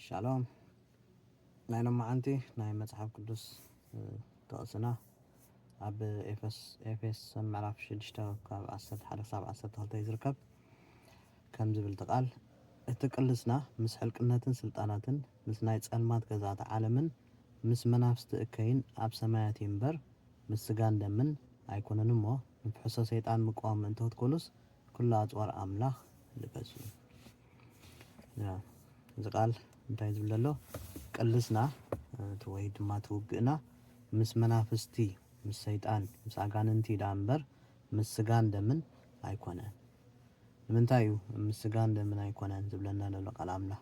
ሻሎም ናይ ሎማዓንቲ ናይ መጽሓፍ ቅዱስ ጥቕስና ኣብ ኤፌሶን ምዕራፍ ሽዱሽተ ካብ ዓሰርተ ሓደ ክሳብ ዓሰርተ ክልተ እዩ ዝርከብ ከም ዝብል እቲ ቃል እቲ ቅልስና ምስ ሕልቅነትን ስልጣናትን ምስ ናይ ጸልማት ገዛእቲ ዓለምን ምስ መናፍስቲ እከይን ኣብ ሰማያት እዩ እምበር ምስ ስጋን ደምን ኣይኮነን እሞ ንፍሕሶ ሰይጣን ምቋወም ምእንቲ ክትኮኑስ ኩሉ ኣጽዋር ኣምላኽ ልበሱ እዚ ቃል እንታይ ዝብል ዘሎ ቅልስና እቲ ወይ ድማ እቲ ውግእና ምስ መናፍስቲ ምስ ሰይጣን ምስ ኣጋንንቲ ደኣ እምበር ምስ ስጋን ደምን ኣይኮነን ንምንታይ እዩ ምስ ስጋን ደምን ኣይኮነን ዝብለና ዘሎ ቃል ኣምላኽ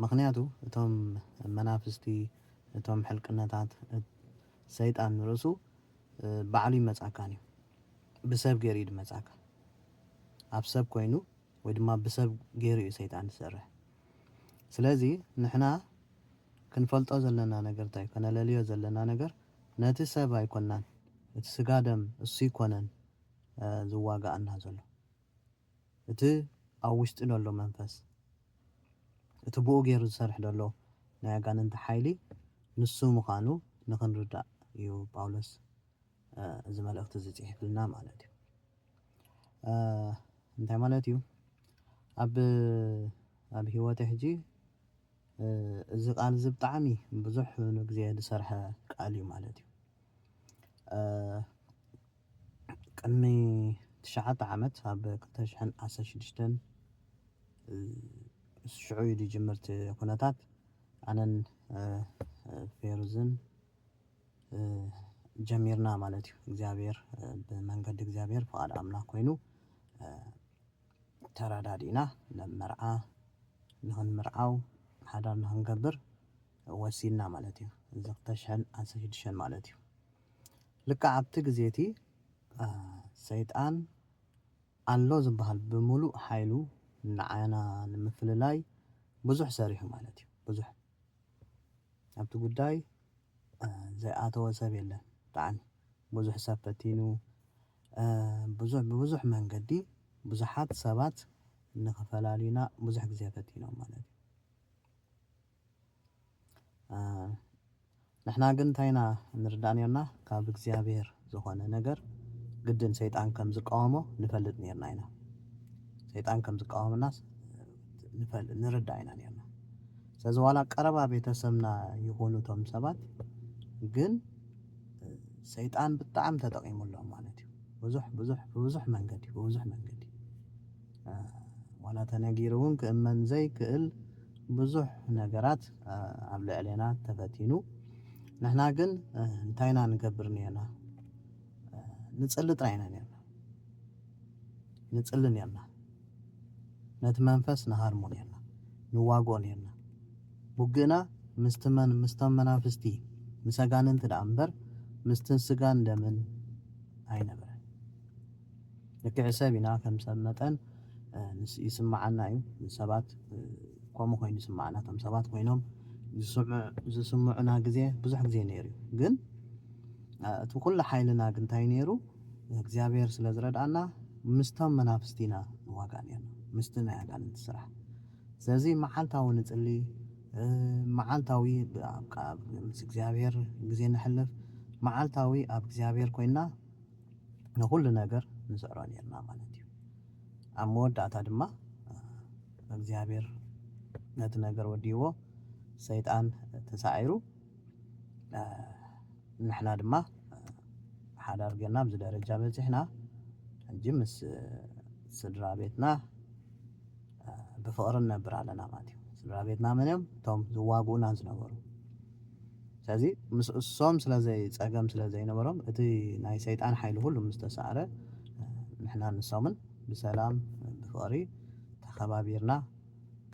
ምክንያቱ እቶም መናፍስቲ እቶም ሕልቅነታት ሰይጣን ንርእሱ ባዕሉ ይመጻካን እዩ ብሰብ ገይሩ እዩ ድመጻካ ኣብ ሰብ ኮይኑ ወይ ድማ ብሰብ ጌሩ እዩ ሰይጣን ዝሰርሕ ስለዚ ንሕና ክንፈልጦ ዘለና ነገር ታይ ከነለልዮ ዘለና ነገር ነቲ ሰብ ኣይኮናን እቲ ስጋ ደም እሱ ኣይኮነን ዝዋጋኣና ዘሎ እቲ ኣብ ውሽጢ ደሎ መንፈስ እቲ ብኡ ጌሩ ዝሰርሕ ደሎ ናይ ኣጋንንቲ ሓይሊ ንሱ ምኻኑ ንኽንርዳእ እዩ ጳውሎስ እዚ መልእኽቲ እዚ ጽሒፍልና ማለት እዩ እንታይ ማለት እዩ ኣብ ኣብ ህይወተ ሕጂ እዚ ቃል እዚ ብጣዕሚ ብዙሕ ንግዜ ዝሰርሐ ቃል እዩ ማለት እዩ ቅድሚ ትሽዓተ ዓመት ኣብ ክልተ ሽሕን ዓሰርተ ሽዱሽተን ሽዑ እዩ ዝጅምር እቲ ኩነታት ኣነን ፌሩዝን ጀሚርና ማለት እዩ እግዚኣብሔር ብመንገዲ እግዚኣብሔር ፍቓድ ኣምላኽ ኮይኑ ተረዳዲእና ናብ መርዓ ንኽንምርዓው ሓዳር ንኽንገብር ወሲንና ማለት እዩ እዚ ክልተ ሽሕን ዓሰርተ ሽዱሽተን ማለት እዩ ልክዕ ኣብቲ ግዜ እቲ ሰይጣን ኣሎ ዝበሃል ብምሉእ ሓይሉ ንዓና ንምፍልላይ ብዙሕ ሰሪሑ ማለት እዩ ብዙሕ ኣብቲ ጉዳይ ዘይኣተወ ሰብ የለን ብጣዕሚ ብዙሕ ሰብ ፈቲኑ ብዙሕ ብብዙሕ መንገዲ ብዙሓት ሰባት ንክፈላልዩና ብዙሕ ግዜ ፈቲኖም ማለት እዩ ንሕና ግን እንታይ ኢና ንርዳእ ኔርና ካብ እግዚኣብሔር ዝኾነ ነገር ግድን ሰይጣን ከም ዝቃወሞ ንፈልጥ ኔርና ኢና። ሰይጣን ከም ዝቃወመናስ ንፈል ንርዳእ ኢና ኔርና። ስለዚ ዋላ ቀረባ ቤተሰብና ይኹኑ እቶም ሰባት ግን ሰይጣን ብጣዕሚ ተጠቒሙሎም ማለት እዩ። ብዙሕ ብዙሕ ብብዙሕ መንገዲ ብብዙሕ መንገዲ ዋላ ተነጊሩ እውን ክእመን ዘይክእል ብዙሕ ነገራት ኣብ ልዕሌና ተፈቲኑ። ንሕና ግን እንታይ ኢና ንገብር ኔርና? ንጽሊ ጥራይ ኢና ኔርና። ንጽሊ ኔርና። ነቲ መንፈስ ንሃርሞ ኔርና። ንዋግኦ ኔርና። ውግእና ምስቲ መን ምስቶም መናፍስቲ ምስ ኣጋንንቲ ደኣ እምበር ምስቲ ስጋን ደምን ኣይነበረን። ልክዕ ሰብ ኢና ከም ሰብ መጠን ይስምዓና እዩ ንሰባት ከምኡ ኮይኑ ይስምዓና እቶም ሰባት ኮይኖም ዝስምዑና ግዜ ብዙሕ ግዜ ነይሩ እዩ ግን እቲ ኩሉ ሓይልና ግን እንታይ ነይሩ እግዚኣብሔር ስለ ዝረድኣና ምስቶም መናፍስቲ ኢና ንዋጋእ ነርና ምስቲ ናይ ኣጋንንቲ ስራሕ ስለዚ መዓልታዊ ንጽሊ መዓልታዊ ምስ እግዚኣብሔር ግዜ ነሕልፍ መዓልታዊ ኣብ እግዚኣብሔር ኮይንና ንኹሉ ነገር ንስዕሮ ኔርና ማለት እዩ። ኣብ መወዳእታ ድማ እግዚኣብሔር ነቲ ነገር ወዲእዎ ሰይጣን ተሳዒሩ ንሕና ድማ ሓዳር ጌርና ኣብዚ ደረጃ በጺሕና ሕጂ ምስ ስድራ ቤትና ብፍቕሪ ንነብር ኣለና ማለት እዩ። ስድራ ቤትና መን እዮም? እቶም ዝዋግኡና ዝነበሩ ስለዚ ምስ እሶም ስለ ዘይ ጸገም ስለ ዘይነበሮም እቲ ናይ ሰይጣን ሓይሊ ኩሉ ምስ ተሳዕረ ንሕናን ንሶምን ብሰላም ብፍቕሪ ተኸባቢርና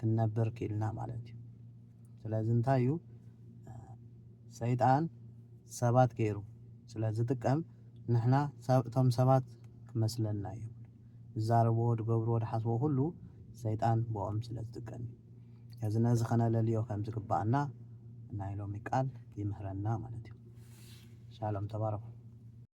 ክንነብር ክኢልና ማለት እዩ። ስለዚ እንታይ እዩ ሰይጣን ሰባት ገይሩ ስለ ዝጥቀም ንሕና እቶም ሰባት ክመስለና የብሉን። ዝዛረብዎ ድገብርዎ ድሓስብዎ ኩሉ ሰይጣን ብኦም ስለ ዝጥቀም እዩ ስለዚ ነዚ ከነለልዮ ከም ዝግባኣና ናይ ሎሚ ቃል ይምህረና ማለት እዩ ሻሎም ተባረኹ።